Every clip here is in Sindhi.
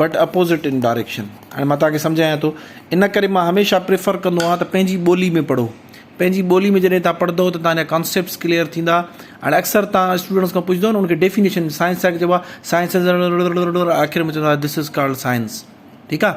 بٽ اپوزٽ ان ڊاريڪشن هاڻي مان توهان کي سمجهايان ٿو ان ڪري مان هميشه پريفر ڪندو آهيان ته پنهنجي ٻولي ۾ پڙهو پنهنجي ٻولي ۾ جڏهن تان پڙهندو ته تان ڪانسيپٽس ڪليئر ٿيندا هاڻي اڪثر تان اسٽوڊنٽس کان پڇندو ان کي ڊيفينيشن سائنس جا چئبو آهي سائنس آخر ۾ چوندو آهي دس از ڪالڊ سائنس ٺيڪ آهي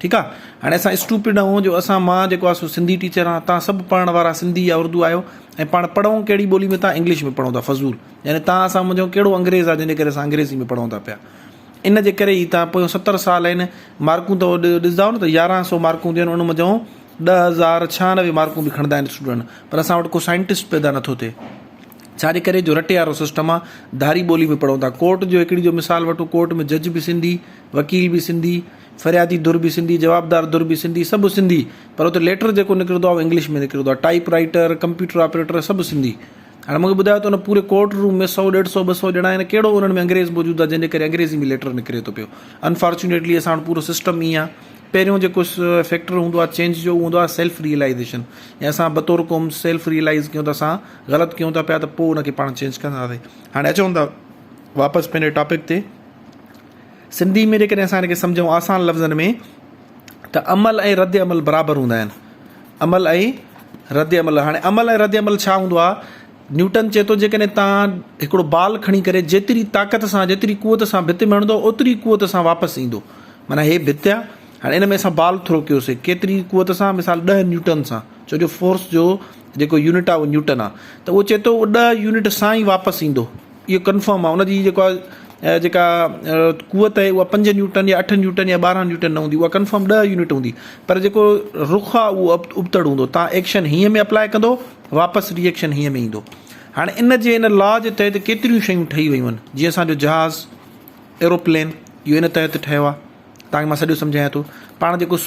ٺيڪ آ هاڻي اسان اسٽوپڊ آهون جو اسان مان جيڪو آ سو سنڌي ٽيچر آهان تهان سڀ پڙهڻ وارا سنڌي يا اردو آهيو ۽ پاڻ پڙهون ڪهڙي ٻولي ۾ تهان انگلش ۾ پڙهون ٿا فضول يعني تهان اسان منجهون ڪهڙو انگريز آ جنهن جي ڪري اسان انگريزي ۾ پڙهون ٿا پيا ان جي ڪري ئي تهان پويون ستر سال آهن مارڪون تو ڏسداؤ نه ته يارهن سو مارڪون ٿيون ان منجهون ڏهه هزار ڇهانوي مارڪون به کڻندا آهن اسٽوڊنٽ پر اسان وٽ ڪو سائنٽسٽ پيدا نٿو ٿئي ڇا جي ڪري جو رٽي وارو سسٽم آ ڌاري ٻولي ۾ پڙهون ٿا ڪورٽ جو هڪڙي جو مثال وٺو ڪورٽ ۾ جج به سنڌي وڪيل به سنڌي فريادي ڌر به سنڌي، جوابدار ڌر به سنڌي، سڀ سنڌي پر اتي ليٽر جيڪو نڪرندو آهي اهو انگلش ۾ نڪرندو آهي، ٽائيپ رائيٽر، ڪمپيوٽر آپريٽر سڀ سنڌي. هاڻي مونکي ٻڌايو ته ان پوري ڪورٽ روم ۾ سؤ ڏيڍ سؤ ٻه سؤ ڄڻا آهن ڪهڙو انهن ۾ انگريز موجود آهي جنهن جي ڪري انگريزي ۾ ليٽر نڪري ٿو پيو. انفارچونيٽلي اسان وٽ پورو سسٽم ائين آهي. پهريون جيڪو فيڪٽر هوندو آهي چينج جو اهو هوندو آهي سيلف ريئلائيزيشن ۽ اسان بطور قوم سيلف ريئلائيز ڪيون ته اسان غلط ڪيون ٿا پيا ته پوء ان کي پاڻ چينج ڪنداسين. هاڻي اچون ٿا واپس پنهنجي ٽاپڪ تي. سنڌي ۾ جيڪڏهن اسان هن کي سمجهون آسان لفظن ۾ ته عمل ۽ رد عمل برابر هوندا آهن. عمل ۽ رد عمل هاڻي عمل ۽ رد عمل ڇا هوندو آهي؟ نيوٽن چئي ٿو جيڪڏهن توهان هڪڙو بال کڻي ڪري جيتري طاقت سان جيتري قوت سان ڀت ۾ هڻندو اوتري قوت سان واپس ايندو معنيٰ هي ڀت آهي هاڻي ان ۾ اسان بال ٿرو ڪيوسي ڪيتري قوت سان مثال ڏهه نيوٽن سان ڇو جو فورس جو جيڪو يونٽ آهي اهو نيوٽن آهي ته اهو چئي ٿو اهو ڏهه يونٽ سان ئي واپس ايندو. اهو ڪنفرم آهي ان جي جيڪو آهي جيڪا قوت آهي اها پنج نيوٽن يا اٺ نيوٽن يا ٻارهن نيوٽن نه هوندي اها ڪنفرم ڏهه يونٽ هوندي پر جيڪو رخ آهي اهو ابتڙ هوندو تان ايڪشن هينئن ۾ اپلاء ڪندو واپس ري ايڪشن هينئن ۾ ايندو هاڻي ان جي ان لا جي تحت ڪيتريون شيون ٺهي ويون آهن جيئن اسانجو جهاز ايروپلين اهو ان تحت ٺهيو آهي تانکي مان سڄو سمجهايان ٿو پاڻ جيڪو